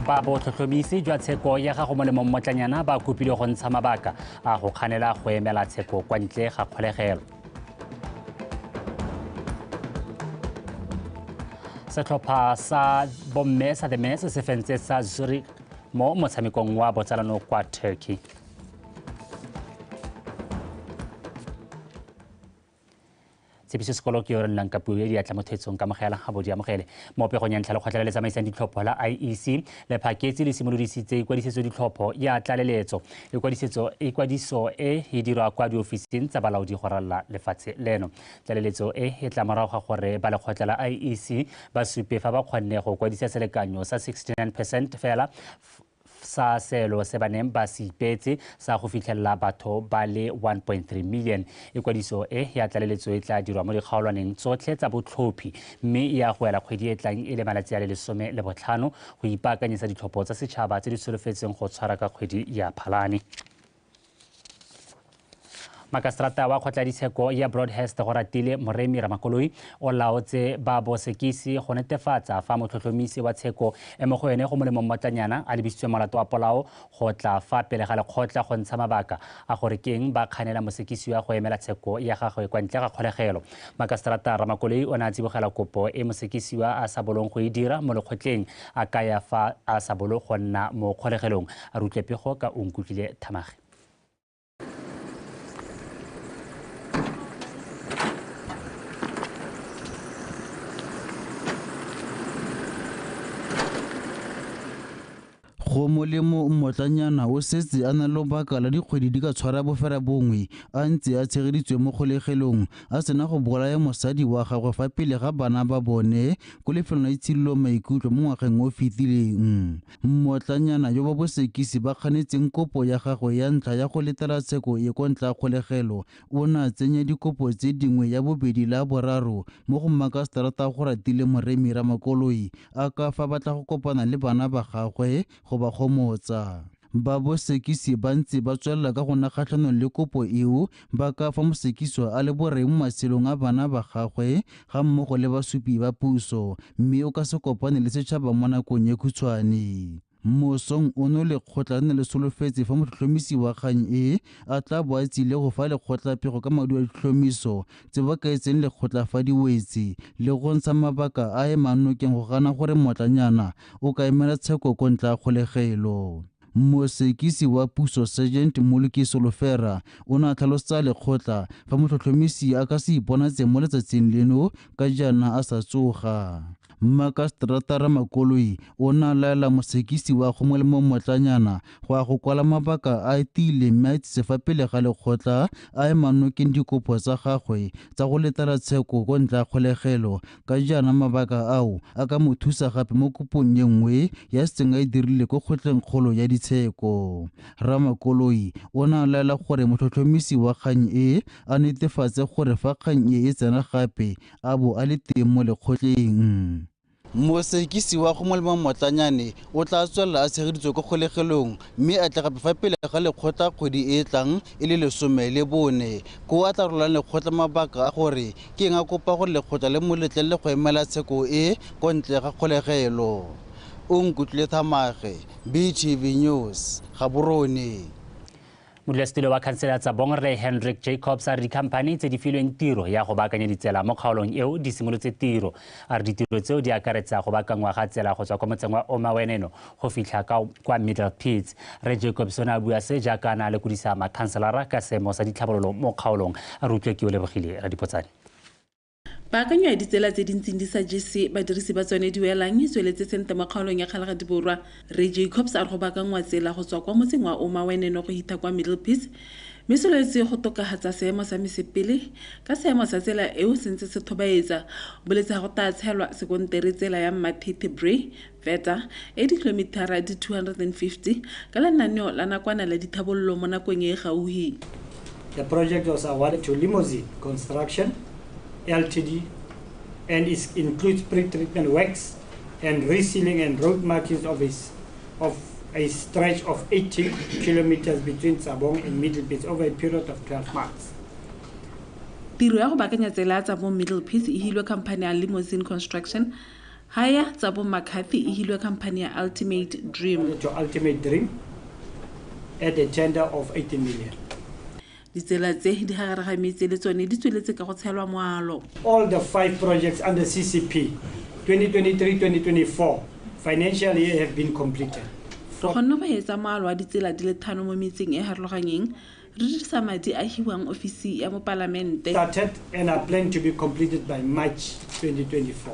ba botlhotlhomisi jwa tsheko ya gago mo lemong motlanyana ba kopile go ntsha mabaka a go kganela go emela tsheko kwa ntle ga kgolegelo setlhopha sa bomme sa the mess se fentse sa zurich mo motshamekong wa botsalano kwa turkey tshepiso sekolo ke yo re nnang ka puo e diatla mo thetsong ka mogela ga bodi amogele mo pegong ya ntlha lekgotla le le tsamaisang ditlhopho la iec lephaketse le simolodisitse ikwadisetso ditlhopho ya tlaleletso ikwadiso e e dirwa kwa diofising tsa balaodi go ralala lefatshe leno tlaleletso e e tla morago ga gore ba lekgotla la iec ba supe fa ba kgonne go kwadisa selekanyo sa 69 percent fela sa selo se ba neng ba se ipeetse sa go fitlhelela batho ba le 1.3 million. Ikwadiso e ya tlaleletso e tla dirwa mo dikgaolwaneng tsotlhe tsa botlhophi mme e ya go ela kgwedi e tlang e le malatsi a le lesome le botlhano go ipaakanyetsa ditlhopho tsa setšhaba tse di solofetseng go tshwara ka kgwedi ya Phalane. makaseterata wa kgotladitsheko ya broadhurst go ratile moremi ramakoloi o laotse ba bosekisi go netefatsa fa motlhotlhomisi wa tsheko e mo go ene go molemo mmotlanyana a lebisitswe molato wa polao go tla fa pele ga lekgotla go ntsha mabaka a gore ke eng ba kganela mosekisiwa go emela tsheko ya gagwe kwa ntle ga kgolegelo makaseterata ramakoloi o ne a tsibogela kopo e mosekisiwa a sa bolong go e dira mo lekgotleng a kaya fa a sa bolo go nna mo kgolegelong a re utlwe pego ka o nkutlwile thamage go molemo mmotlanyana o setse a na le lobaka la dikgwedi di ka tshwara bofera bongwe a ntse a tshegeditswe mo kgolegelong a sena go bolaya mosadi wa gagwe fa pele ga bana ba bone ko lefelong la itshidilo maikutlo mo ngwageng o fetileng Mmotlanyana yo ba bosekisi ba ganetseng kopo ya gagwe ya ntlha ya go letela tsheko e ko ntla kgolegelo o ne a tsenya dikopo tse dingwe ya bobedi le ya boraro mo go Makaseterata Goratile Moremi Ramakoloi a ka fa batla go kopana le bana ba gagwe go ba gomotsa. Ba bosekisi ba ntse ba tswelela ka go na kgatlhanong le kopo eo ba ka fa mosekiswa a le boreng mo matshelong a bana ba gagwe ga mmogo le basupi ba puso mme o ka se kopane le setšhaba mo nakong e khutshwane. Mosong ono lekgotla le ne le solofetse fa motlhotlhomisi wa kgang e a tla bo a tsile go fa lekgotla pego ka maduo a ditlhomiso tse ba kaetseng lekgotla fa di wetse le go ntsha mabaka a emang nokeng go gana gore mmotlanyana o ka emela tsheko ko ntle ga kgolegelo. Mosekisi wa puso Sergeant Moluki Solofera o ne a tlhalosetsa lekgotla fa motlhotlhomisi a ka se iponatse mo letsatsing leno ka jaana a sa tsoga. Mmakastratara Ramakoloi o ne a laela mosekisi wa gongwe le mongwe motlanyana go ya go kwala mabaka a a tiileng mme a itsise fa pele ga lekgotla a ema nokeng dikopo tsa gagwe tsa go letela tsheko ko ntle ga kgolegelo Ka jaana mabaka ao a ka mo thusa gape mo kopong e nngwe ya setseng a e dirile ko kgotleng kgolo ya ditsheko. Ramakoloi o ne a laela gore motlhotlhomisi wa kgang e a netefatse gore fa kgang e e tsena gape a bo a le teng mo lekgotleng. Mosekisi wa go molemo mmotlanyane o tla tswelela a tshegeditswe ko kgolegelong mme a tle gape fa pele ga lekgotla kgwedi e e tlang e le lesome le bone, koo a tla rolang lekgotla mabaka a gore Ke nga kopa gore lekgotla le mo letlelele go emela tsheko e ko ntle ga kgolegelo. Onkutlule Thamage, BTV News, Gaborone. Modulasetulo wa khansele ya Tsabong Rre Hendrick Jacobs a re dikhamphani tse di filweng tiro ya go baakanya ditsela mo kgaolong eo di simolotse tiro. A re ditiro tseo di akaretsa go baakangwa ga tsela go tswa kwa motseng wa Omaweneno go fitlha ka kwa middle pits re jacobs o ne a bua se jaaka a ne a lekodisa makhanselara ka seemo sa ditlhabololo mo kgaolong a re utlwe ke o lebogile radipotsane Paakanyo ya ditsela tse di ntseng di sa jese badirisi ba tsone diwelang e tsweletse sente mo kgaolong ya Kgalagadi Borwa. Re Jacobs a re go baakangwa tsela go tswa kwa motseng wa Oma Weneno go hitha kwa Middle Pits mme se lwetse go tokagatsa seemo sa mesepele ka seemo sa tsela eo se ntse se thobaetsa boletse ga go taa tshelwa sekontere tsela ya Mmathethe Bray Feta e dikilomithara di 250 ka lenaneo la nakwana la dithabololo mo nakong e e gauhi. The project was awarded to Limousine Construction Ltd and is includes pre-treatment works and resealing and road markings of a, of a stretch of 80 kilometers between Tsabong and Middlepits over a period of 12 months. Tiro ya go baakanya tsela ya Tsabong Middlepits e hilwe khamphane ya Limousine Construction Haya tsa bo McCarthy e hilwe khamphani ya Ultimate Dream. to Ultimate Dream at a tender of 18 million. Ditsela tse di gagare ga metse le tsone di tsweletse ka go tshelwa moalo. All the five projects under CCP 2023-2024 financial year have been completed. Re kgonne go etsa moalo wa ditsela di le thano mo metseng e harologanyeng Re dirisa madi a hiwang ofisi ya Mopalamente. started and are planned to be completed by March 2024.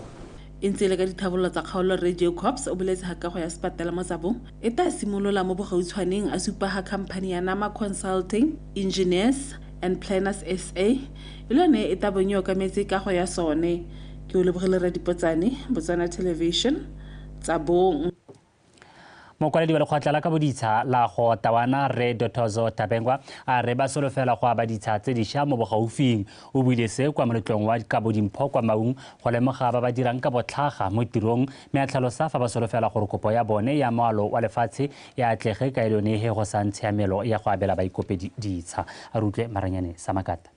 E ntse e le ka dithabololo tsa kgaolo Rre Jacobs o boletse ga kago ya sepatala mo Tsabong e taa simolola mo bogautshwaneng a supa ga khamphani ya Nama Consulting, Engineers and Planners SA e le yone e taa bong e okametse kago ya sone. Ke Olebogile Radipotsane, Botswana Television, Tsabong. mokwaledi wa lekgotla la ka boditsha la go tawana re dotozo tabengwa a re ba solofela go aba ditsha tse dišwa mo bogaufing o buile se kwa moletlong wa kabo dimpho kwa maung go lemoga ba ba dirang ka botlhaga mo tirong mme a tlhalosa fa ba solofela gore kopo ya bone ya moalo wa lefatshe e atlege ka e lone he go sa ntshiamelo ya go abela baikopedi ditsha a re utlwe maranyane sa makata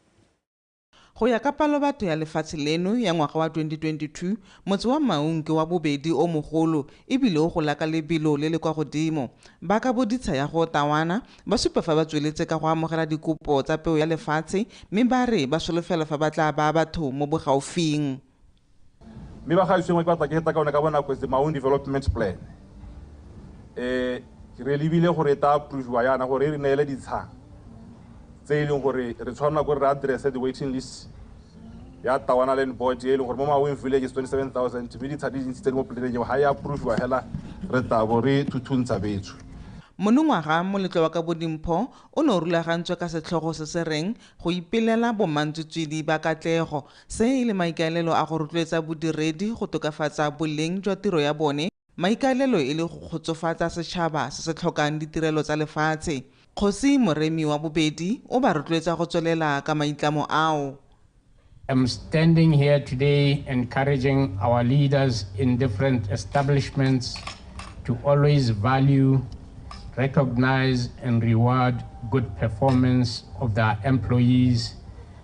Go ya ka palobatho ya lefatshe leno ya ngwaga wa 2022, motse wa Maun ke wa bobedi o mogolo e bile o gola ka lebelo le le kwa godimo. Ba ka boditsha ya go Tawana ba supa fa ba tsweletse ka go amogela dikopo tsa peo ya lefatshe mme ba re ba solofela fa ba tla baa batho mo bogaufing. Mme ba gaetsho e nngwe ke batla ke feta ka one ka bonako is the Maun Development Plan. Um re lebile gore e ta approve-iwa yana gore e re neele ditshang tse e leng gore re tshwanela ko re address the waiting list ya tawana land board e leng gore mo maweng village is 27000 mme ditsha di dintsi tse di mo planeng eo ga e approve-iwa fela re tabo re thuthuntsha betsho Monongwaga moletlo wa ka Bodimpho o ne o rulagantswe ka setlhogo se se reng Go Ipelela Bomantswetswedi ba Katlego Se e le maikaelelo a go rotloetsa bodiredi go tokafatsa boleng jwa tiro ya bone, maikaelelo e le go kgotsofatsa setšhaba se se tlhokang ditirelo tsa lefatshe. Kgosi Moremi wa Bobedi o ba rotloetsa go tswelela ka maitlamo ao. I'm standing here today encouraging our leaders in different establishments to always value, recognise and reward good performance of their employees,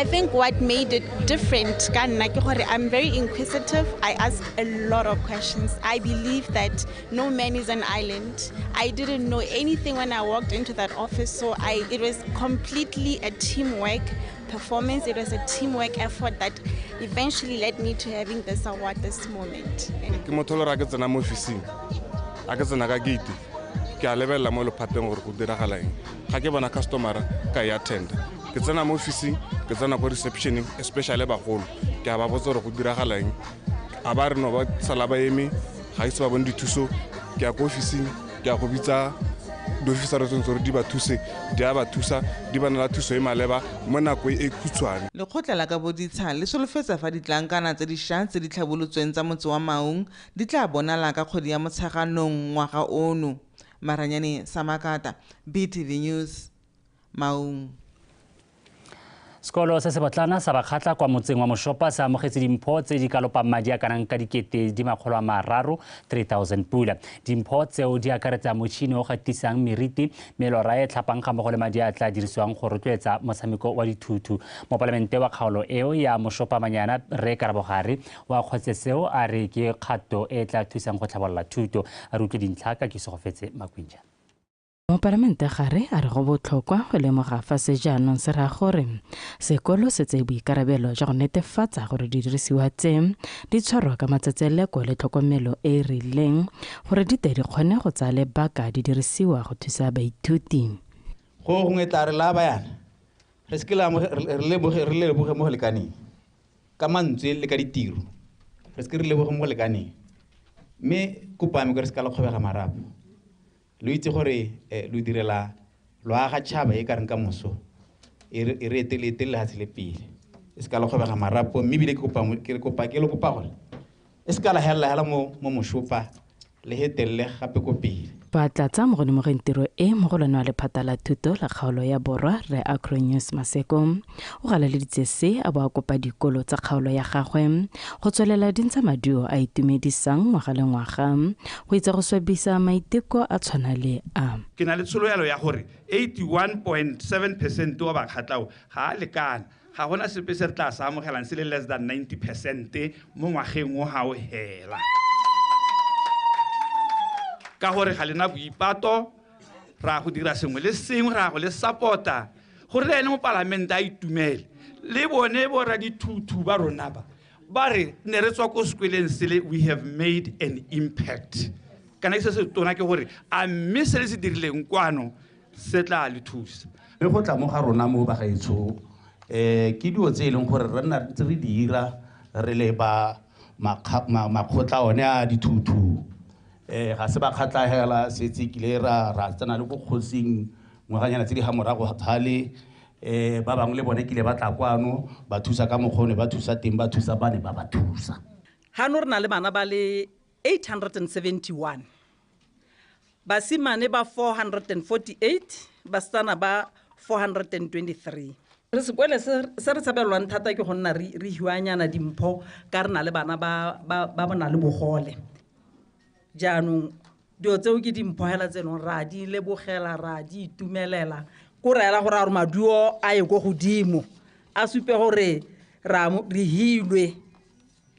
I think what made it different ka nna ke gore I'm very inquisitive. I ask a lot of questions. I believe that no man is an island. I didn't know anything when I walked into that office, so I it was completely a teamwork performance. It was a teamwork effort that eventually led me to having this award this moment. ke motho le ra ke tsena mo officing a ke tsena ka gate ke a lebelela mo lephateng gore go diragala eng ga ke bona customera ka e attenda ke tsena mo officing ke tsena ko receptioneng especially bagolo ke a ba botsa gore go diragalang a ba re no ba sala ba eme ga ise ba bone dithuso ke ya ko officing ke ya go bitsa diofisara tse gore di ba thuse di a ba thusa di ba nela thuso e maleba mo nako e, e khutshwane lekgotla la ka boditsha le solofetsa fa ditlankana tse dišwa tse di tlhabolotsweng tsa motse wa maung di tla bonala ka kgwedi ya motsheganong ngwaga ono Maranyane Samakata, BTV News, Maung. Sekolo se se botlana sa bakgatla kwa motseng wa Moshopa se amogetse dimpho tse di ka lopang madi a kanang ka dikete di makgolo a mararo 3000 pula. Dimpho tseo di akaretsa motšhini o gatisang meriti, melora e tlhapang ga mmogo le madi a tla dirisiwang go rotloetsa motshameko wa dithuthu. Mopalamente wa kgaolo eo ya Moshopa Manyana Rre Karabogare Wa Kgotseseo a re ke kgato e e tla thusang go tlhabolola thuto. A re utlwe dintlha ka Kesogofetse Makwinja. Mopalamentegare a re go botlhokwa go lemoga fa se jaanong se raya gore sekolo se tseye boikarabelo jwa go netefatsa gore didirisiwa tse di tshwarwa ka matsetseleko le tlhokomelo e e rileng gore di tle di kgone go tsaya lebaka di dirisiwa go thusa baithuti. Gongwe tla re laa bayana re se ke re le leboge mo go lekaneng. ka mantswe le ka ditiro re se ke re leboge mo go lekaneng mme kopo ame kore se ka le kgobega marapo lo itse gore eh, lo direla lo aga tšhaba e ka reng ka moso e re e re etele etele lefatshe le pele e se ka le kgobega marapo mme ebile ke kopa mo- ke re kopa ke le kopa gore E se ka la helela hela mo mo moshopa le he telele gape ko pele. Ba tlatsa mo go lemogeng tiro e mogolwane wa lephata la thuto la kgaolo ya borwa Rre Acronius Maseko o galaleditse se a bo a kopa dikolo tsa kgaolo ya gagwe go tswelela di ntsha maduo a itumedisang ngwaga le ngwaga go itsa go swabisa maiteko a tshwana le a. Ke na le tshologelo ya gore 81.7 percent wa bakgatlao ga a lekana. Ga go na sepe se re tla se amogelang se le less than 90 percente mo ngwageng o ga o hela ka gore ga lena boipato ra go dira sengwe le sengwe ra go le support-a gore le ene mo palamente a itumele le bone bo ra dithuthu ba rona ba ba re ne re tswa ko sekweleng sele we have made an impact kana ke se se tona ke gore a mme se le se dirileng kwano se tla le thusa mme go tla mo ga rona mo bagaetsho um eh, ke dilo tse e leng gore re nna ntse re di ira re le ba makgotla one a dithuthu um eh, ga se ba kgatlhagela setse kile ra ra tsena le ko kgosing ngwaganyana tse di ga morago gale um ba bangwe le bone kile ba tla kwano ba thusa ka mokgone ba thusa teng ba thusa bane ba ba thusa gano re na le bana ba le 871, basimane ba 448, basetsana ba 423. Sekwele se, se re tshabelelwang thata ke go nna re, re hiwanyana dimpho ka re na le bana ba, ba, ba bona le bogole. Jaanong dilo tseo ke dimpho hela tse leng ra di lebogela, ra di itumelela, ko re ela gore a gore maduo a ye ko godimo, a supe gore ra, re hilwe.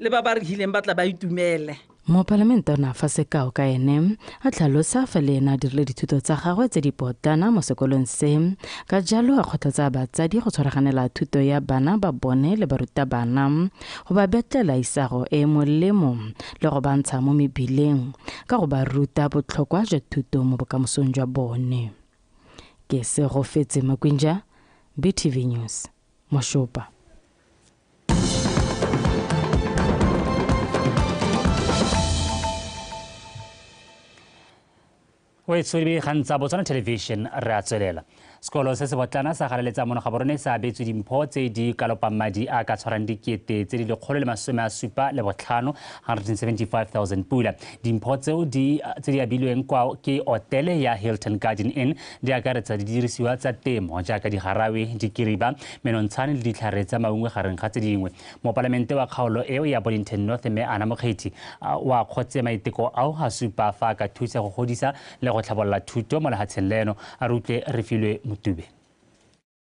le ba ba re hileng ba tla ba itumele Mopalamente o ne a fa sekao ka ene a tlhalosa fa le ene a dirile dithuto tsa gagwe tse di potlana mo sekolong se ka jalo a kgothatsa batsadi go tshwaraganela thuto ya bana ba bone le barutabana go ba betlela isago e e molemo le go bantsha mo mebileng ka go ba ruta botlhokwa jwa thuto mo bokamosong jwa bone ke se go fetse makwinja btv news moshopa o e tshwere dikgang tsa botswana television re a tswelela sekolo se se botlana sa galeletsa mono ga borone se abetswe dimpho tse di kalopang madi a ka tshwarang dikete tse di lekgolo le masome a supa le botlhano 175000 pula dimpho tseo tse di abilweng kwa ke otele ya hilton garden inn di akaretsa didirisiwa tsa temo jaaka digarawe dikiriba menontshane le ditlhare tsa maungwe gareng ga tse dingwe mopalamente wa kgaolo eo ya bollington north mme ana mokgethi o a kgotse maiteko ao a supa fa a ka thusa go godisa le go tlhabolola thuto mo lehatsheng leno a re utlwe re filwe motube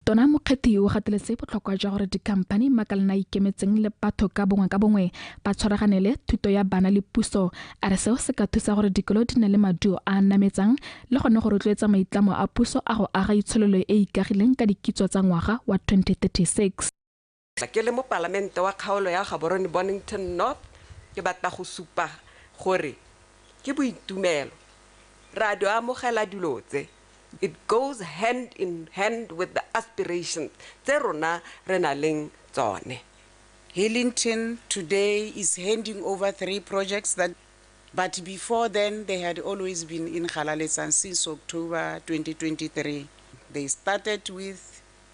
Tona Mokgethi o gateletse botlhokwa jwa gore dikhamphani makalana ikemetseng le batho ka bongwe ka bongwe ba tshwaraganele thuto ya bana le puso a re seo se ka thusa gore dikolo di nne le maduo a a nametsang le gone go rotloetsa maitlamo a puso a go aga itshololo e ikagileng ka dikitso tsa ngwaga wa 2036 Ke le mopalamente wa kgaolo ya Gaborone Bonnington North, ke batla go supa gore ke boitumelo re a di amogela dilo tse. It goes hand in hand with the aspirations tse rona re na leng tsone. Hillington today is handing over three projects that but before then they had always been in Galaletsang since October 2023. They started with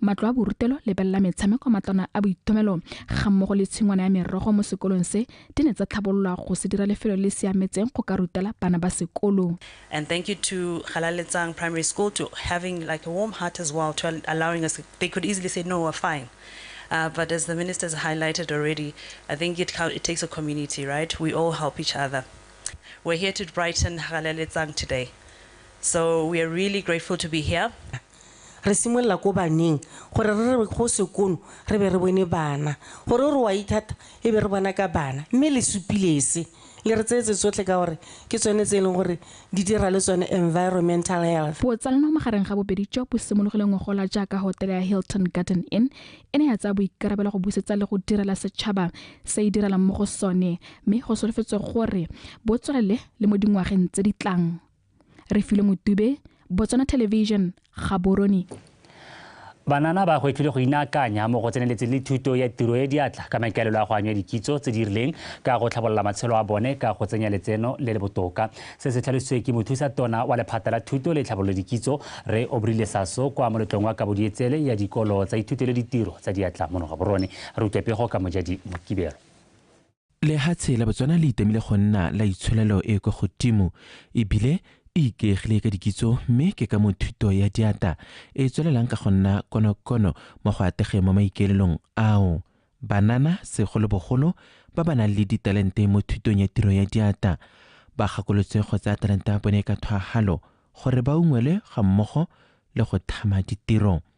matlo a borutelo lebelela metshameko matlwana a boitumelo ga mmogo le tshingwana ya merogo mo sekolong se di ne tsa tlhabololwa go se dira lefelo le siametseng go ka rutela bana ba sekolo And thank you to Galaletsang Primary School to having like a warm heart as well to al- allowing us. They could easily say, no, we're fine. Uh, but as the ministers highlighted already, I think it, cou- it takes a community, right? We all help each other. We're here to brighten Galaletsang today. So we are really grateful to be here. Re simolola ko baneng gore re re go sekono re be re bone bana, gore o re wa ithata e be re bona ka bana. Mme le supile se, le re tsetse tsotlhe ka gore ke tsone tse e leng gore di dira le tsone environmental health. Botsalano magareng ga bobedi jo bo simologile ngogola jaaka hotele ya Hilton Garden Inn e ne ya tsaya boikarabelo go busetsa le go direla setšhaba se e direlang mo go sone mme go solofetswe gore bo tswelele le mo dingwageng tse di tlang. re filo motube botswana television gaborone Banana ba gwetlhile go inaakanya mo go tseneletseng le thuto ya tiro e diatla ka maikaelelo a go anywa dikitso tse di rileng ka go tlhabolola matshelo a bone ka go tsenya letseno le le botoka. Se se tlhalositswe ke mothusa tona wa lephata la thuto le tlhabololo dikitso Rre Obrile Saso kwa moletlong wa kabodietsele ya dikolo tsa ithuto le ditiro tsa diatla mono Gaborone. Re utlwe pego ka Mojadi Mokibelo. Lehatshe la Botswana le itemile go nna la itsholelo e kwa godimo ebile e ikaegile ka dikitso mme ke ka mo thuto ya diata e tswelelang ka go nna konokono mo go ategeng mo maikaelelong ao. Banana segolobogolo ba ba nang le ditalente mo thutong ya tiro ya diata ba gakolotswe go tsaya talente ya bone ka thwagalo gore ba ungwelwe ga mmogo le go thama ditiro.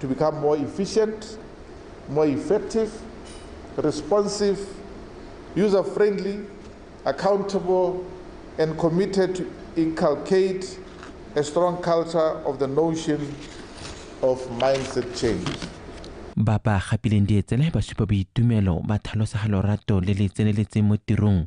to become more efficient, more effective, responsive, user friendly, accountable, and committed to inculcate a strong culture of the notion of mindset change. ba ba gapileng dietsele ba supa boitumelo ba tlhalosa ga lorato le le tseneletseng mo tirong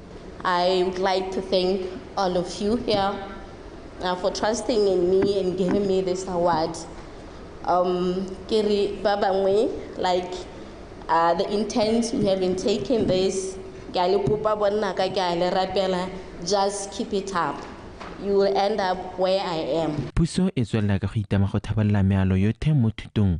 I would like to thank all of you here uh, for trusting in me and giving me this award. Um, Kiri Babangwe, like uh, the intent we have been taking this, just keep it up. You will end up where I am. Puso e tswelela ka go itama go thabalela mealo yothe mo thutong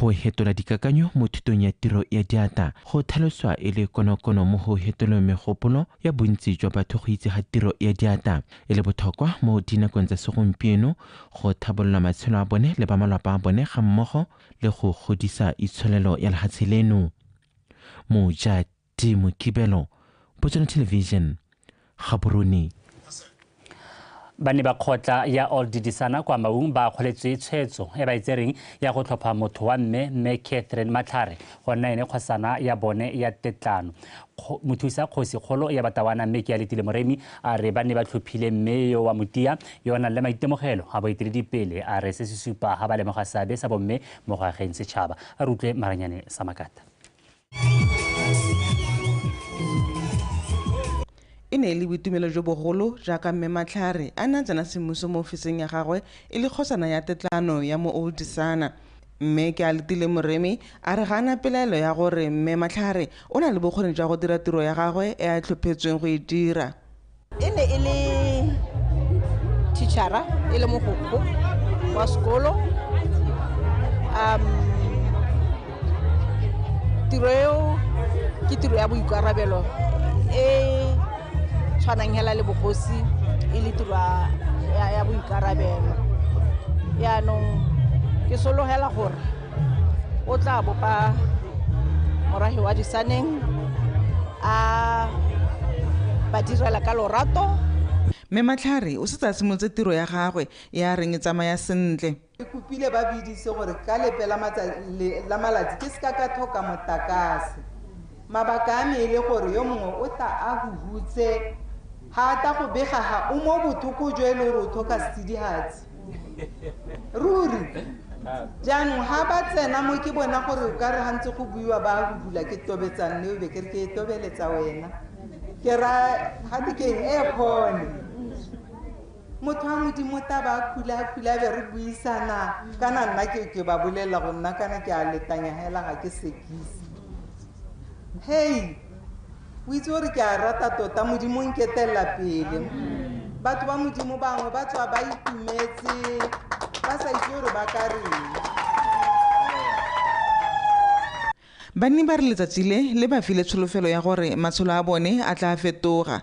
Go hetola dikakanyo mo thutong ya tiro ya diatla go tlhaloswa e le konokono mo go hetoleng megopolo ya bontsi jwa batho go itse ga tiro ya diatla e le bothokwa mo dinakong tsa segompieno go thabolola matshelo a bone le ba malwapa a bone ga mmogo le go godisa itsholelo ya lehatshe leno. Mojaki timo kibelo botsone television gaborone ba ne ba kgotla ya old didisana kwa maung ba kgoletswe tshwetso e ba e tsereng ya go tlhopha motho wa mme mme catherine matlhare go nna ene kgosana ya bone ya tetlano mothusa kgosi kgolo ya batawana mme ke ya letile moremi a re ba ne ba tlhophile mme yo wa motia yo o nang le maitemogelo a boeteledipele a re se se supa ga ba lemoga seabe sa bomme mo go ageng setšhaba a re utlwe maranyane sa makata e ne e le boitumelo jo bogolo jaaka mme matlhare a ne a tsena semmuso mo ofising ya gagwe e le kgosana ya tetlano ya mo oldisana mme ke a letile moremi a re ga ana pelaelo ya gore mme matlhare o na le bokgoni jwa go dira tiro ya gagwe e a tlhophetsweng go e dira e ne e le teachera e le mogokgo wa sekolo um tiro eo ke tiro ya boikarabelo e tshwanang hela le bogosi e le tiro ya boikarabelo yaanong ke sologela gore o tla bopa morahi wa disaneng a ba direla ka lorato mme matlhare o setse a simolotse tiro ya gagwe e a reng e tsamaya sentle ke kopile ba bidise gore ka lepe la malatsi ke seka ka tlhoka motakase mabaka a me e le gore yo mongwe o tla a huhutse ga ata go bega ga o mo bothoko jo e le gore o tlhoka sedihatsi ruri jaanong ga ba tsena mo ke bona gore o ka re gantse go buiwa ba go bula ke tobetsang ne o be ke re ke e tobeletsa wena ke ra ga te keng e kgone motho wa modimo ta ba khula khula be re buisana kana nna ke ke ba bolelela go nna kana ke a letanya hela ga ke sekise hey o itse gore ke a rata tota modimo nketelela pele batho ba modimo bangwe ba tswa ba itumetse ba sa itse gore ba ka reng banni ba re letsatsi le le ba file tsholofelo ya gore matshelo a bone a tla fetoga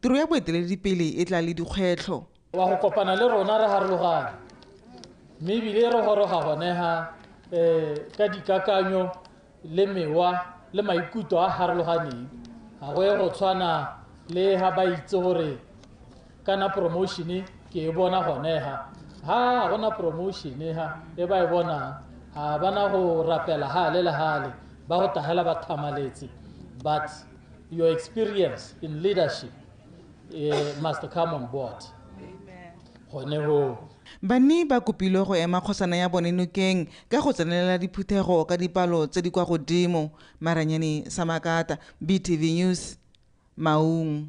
Tiro ya boeteledipele e tla le dikgwetlho. Wa go kopana le rona re harologana, mme ebile re goroga gone ha um ka dikakanyo le mewa le maikutlo a harologaneng. Ga go ye go tshwana le ha ba itse gore kana promotion-e ke e bona gone ha ha ga gona promotion-e ha e ba e bonang ga bana go rapela hale le hale ba go tagela ba thamaletse but Your experience in leadership eh, must come on board. Gone hoo. banni ba kopilwe go ema kgosana ya bone nokeng ka go tsenelela diphuthego ka dipalo tse di kwa godimo maranyane samakata btv news maung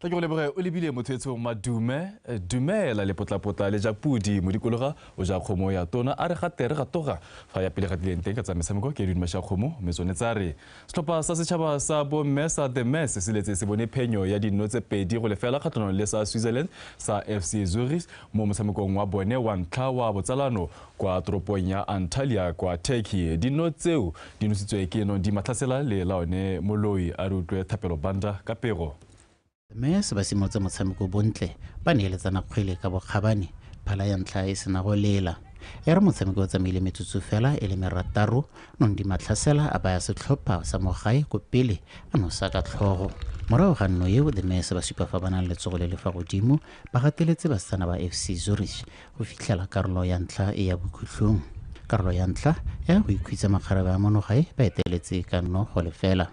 tla ke go leboge o lebile motho etsong madume eh, dumela lepotlapotla le ja pudi modikologa o ja kgomo ya tona a re ga tere ga toga fa ya pele ga dileng teng ka tsa metshameko ke diduma sha kgomo mme tsone tsa re setlhopha sa setšhaba sa bomme sa the mass se letse se bone phenyo ya dinno tse pedi go lefela kgatlhanong le sa switzerland sa fc zurich mo motshamekong wa bone wa ntlha wa botsalano kwa toropong ya Antalya kwa Turkey. Dino tseo di nositswe ke no di matlhasela le la one moloi a re utlwe Thapelo Banda ka pego. Mme se ba simolotse motshameko bontle ba neeletsana kgwele ka bokgabane phala ya ntlha e sena go lela e re motshameko o tsamaile metsotso fela e le merataro nong di matlhasela a baya setlhopha sa mogae ko pele a nosa ka tlhogo morago ga nno eo the mese ba supa fa ba nang letsogo le le fa godimo ba gateletse basetsana ba fc zurich go fitlhela karolo ya ntlha e ya bokhutlhong karolo ya ntlha ya go ikhwitsa makgarebe a monogae ba eteletse ka nnogo lefela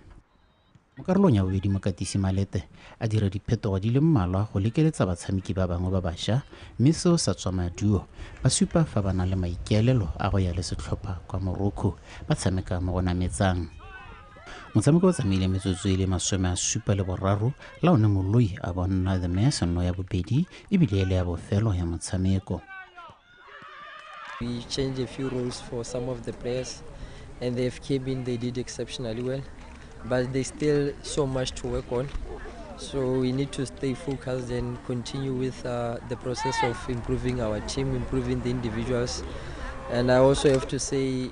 mo karolong ya bobedi mokatisi malete a dira diphetogo di le mmalwa go lekeletsa batshameki ba bangwe ba bašwa mme seo sa tswa maduo ba supa fa ba na le maikaelelo a go ya le setlhopha kwa morocco ba tshameka mo go nametsang motshameko o tsamaile metsotso e le masome a supa le boraro la one moloi a bonna the mass nno ya bobedi ebile e le ya bofelo ya motshameko We changed a few roles for some of the players, and the FK being they did exceptionally well, but there's still so much to work on. So we need to stay focused and continue with uh, the process of improving our team, improving the individuals. And I also have to say,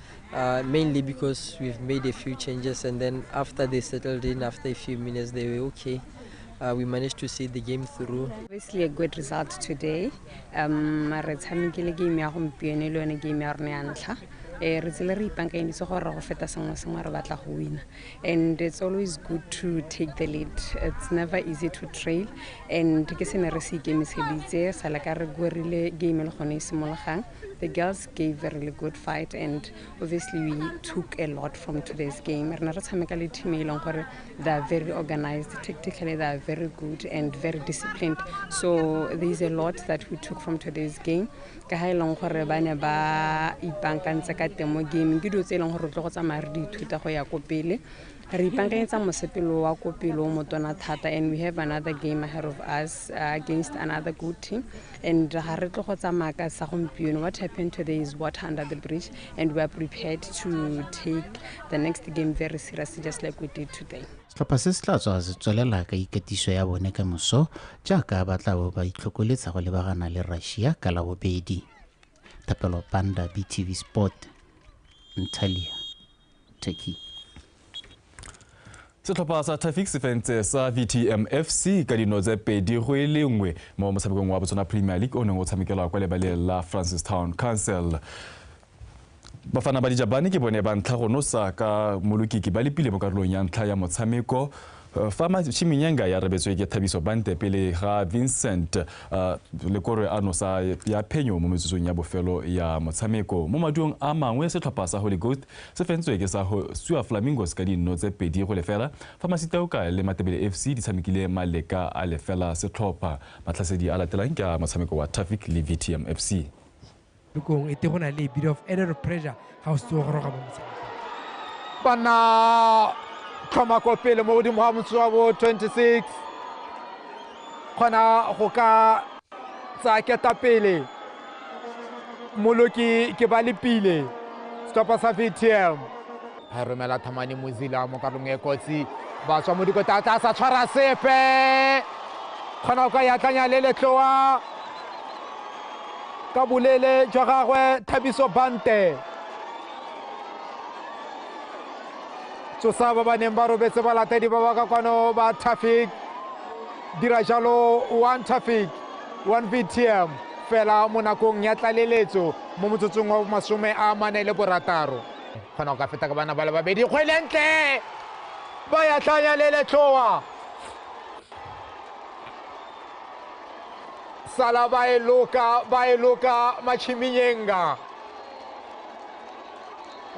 Uh, mainly because we've made a few changes, and then after they settled in, after a few minutes, they were okay. Uh, we managed to see the game through. Obviously, a good result today. Um, re tshamekile game ya gompieno le yone game ya rona ya ntlha eh, re tsile re ipankanyeditse gore go feta sengwe sengwe re batla go wina and it's always good to take the lead it's never easy to trail and ke se ne re se ikemiseditse sa le ka re gorile game e le gone e simologang the girls gave a really good fight and obviously we took a lot from today's game re ne re tshameka le team e leng gore they are very organized tactically they are very good and very disciplined so there is a lot that we took from today's game ka ga e leng gore ba ne ba ipankantse ka teng mo gaming ke dilo tse e leng gore re tlo go tsamaya re di ithuta go ya ko pele Re ipankanyetsa mosepelo wa ko pele o motona thata and we have another game ahead of us uh, against another good team and ga re tlo go tsamaya ka sa gompieno what happened today is water under the bridge and we are prepared to take the next game very seriously just like we did today setlhopha se se tla tswa se tswelela ka ikatiso ya bone ka moso jaaka ba tla bo ba itlhokoletsa go lebagana le russia ka la bobedi thapelo panda btv sport ntalia turkey setlhopha sa tafic sefentse sa vtm fc ka dino tse pedi go e le nngwe mo motshamekong wa botswana premier league o neng o tshamekelwa kwa lebaleng la francis town council bafana ba dijabane ke bone ba ntlha go nosa ka molokiki ba lepile mo karolong ya ntlha ya motshameko Eh, fa matšhiming ya nka ya rebetswe ke thabiso bante pele ga vincent eh, lekore a nosa ya phenyo mo metsotsong ya bofelo ya motshameko mo maduong a mangwe setlhopha sa holy ghost se fentswe ke sa sua flamingos ka dinno tse pedi go lefela fa masitaoka le matebele fc di tshamekile maleka a lefela setlhopha matlhasedi a latelang ke a motshameko wa traffic le vtm fc kong e te go na le a bit of added pressure ga o se tsewa go roga mo motshamekong ba nna tlhoma ko pele mo godimo ga motso wa bo 26 kgona go ka tsa keta pele moloki ke ba lepile setlhopha sa vtm a e romela thamane mozila mo karolong e kotsi ba tswa mo dikota tla sa tshwara sepe kgona go ka yatlanya le letloa ka bolele jwa gagwe thabiso bante tsosa ba ba neng ba robetse balatedi ba ba ka kwano ba traffic dira jalo one traffic one vtm fela mo nakong ya tlaleletso mo motsotsong wa masome a mane le borataro kgona go ka feta ka bana ba le babedi kgwelentle ba ya tlhanya le letlhoa sala ba e loka ba e loka machiminyenga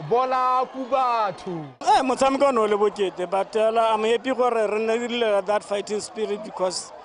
bola ku batho eh, motshameko o ne o le bokete but uh, i'm happy gore re nne re that fighting spirit because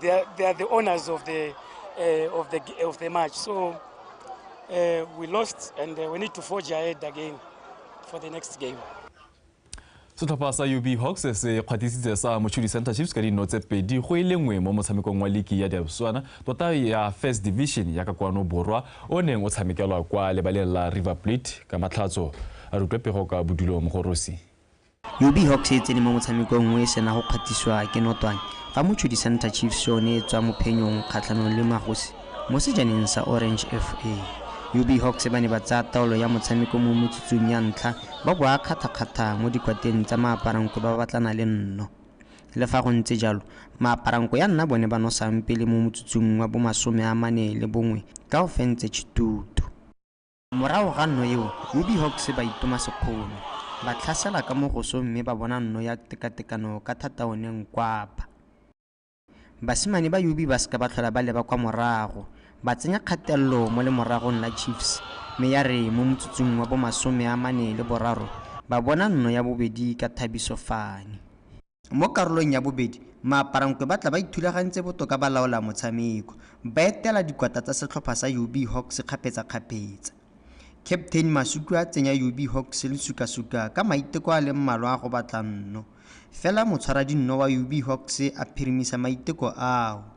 They are, they are the owners of the, uh, of the, of the match. So uh, we lost and uh, we need to forge ahead again for the next game. setlhopha sa ub hawks se kgwatisitse sa mochudi center chiefs ka dino tse pedi go e lengwe mo motshamekong wa liki ya diaboswana tota ya first division ya ka kwano borwa o neng o tshamekelwa kwa lebaleng la river plate ka matlhatso a rutlwe pego ka bodulo mogorosi UB Hawks e tsene mo motshamekong nngwe e sena go kgwathisiwa ke notwane fa motshodi Santa Chiefs yone e tswa mo phenyong kgatlhanong le Magosi mo sejaneng sa Orange FA. UB Hawks ba ne ba tsaya taolo ya motshameko mo metsotsong ya ntlha ba boa kgathakgatha mo dikwateng tsa Maaparanko ba batlana le nno. Le fa go ntse jalo, Maaparanko ya nna bone ba nosang pele mo motsotsong wa bomasome a mane le bongwe ka go fentse Chitutu. Morago ga nno eo, Ruby Hawks ba itoma sekgono, ba tlhasela ka mo gosong mme ba bona nno ya tekatekano ka thata o ne nkwapa. Basimane ba Yubi ba seka ba tlhola ba leba kwa morago, ba tsenya kgatelelo mo lemoragong la Chiefs mme ya re mo motsotsong wa bo masome a mane le boraro ba bona nno ya bobedi ka Thabiso Fani. Mo karolong ya bobedi, maaparankwe ba tla ba ithulagantse botoka ba laola motshameko, ba etela dikwata tsa setlhopha sa UB Hawks kgapetsakgapetsa. Captain Masutu a tsenya UB Hawks le sukasuka ka maiteko a le mmalwa a go batla nno, fela motshwaradinno wa UB Hawks a phirimisa maiteko ao.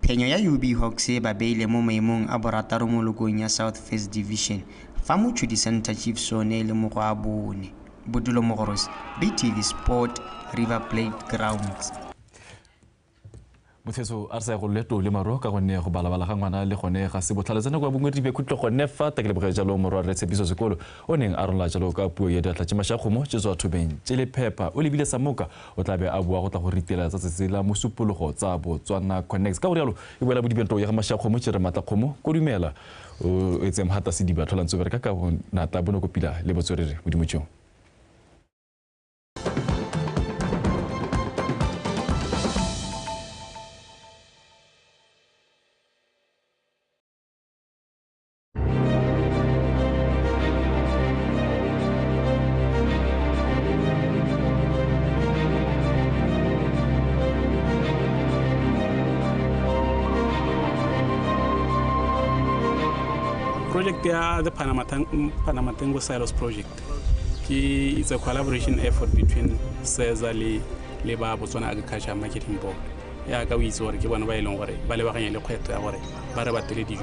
Phenyo ya UB Hawks e ba beile mo maemong a borataro mo lokong ya South First Division fa Mochudi Centre Chiefs yone e le mo go a bone. Bodulo Mogorosi, BTV Sport, River Plate Grounds. motshetso a re sa ya go leto le maro ka gonne go balabala ga ngwana le gone ga se botlhale tsena kwa bongwe dibe khutlo gone fa ta ke leboge jalo morwa re tshepiso sekolo o neng a rola jalo ka puo ya diatla tše mašakgomo tše tswa thobeng tše le phepa o lebile sa moka O tla be a boa go tla go ritela tsa tsatsi la Mosupologo tsa Botswana Connects. Ka go rialo, e boela bodibentong ya ga Mashakgomo, Chere Matlakgomo, Kodumela, o etse Mhata Sediba, Tlhola Ntsobere ka ka bonatla, Bonokopila le Botswerere Modimotšong. project ya the Panama, Tang- Panama Tango Silos project ke it's a collaboration effort between SEZA le le ba Botswana Agriculture Marketing Board ya ka o itse gore ke bone ba e leng gore ba lebaganye le kgwetlho ya gore ba re batele dijo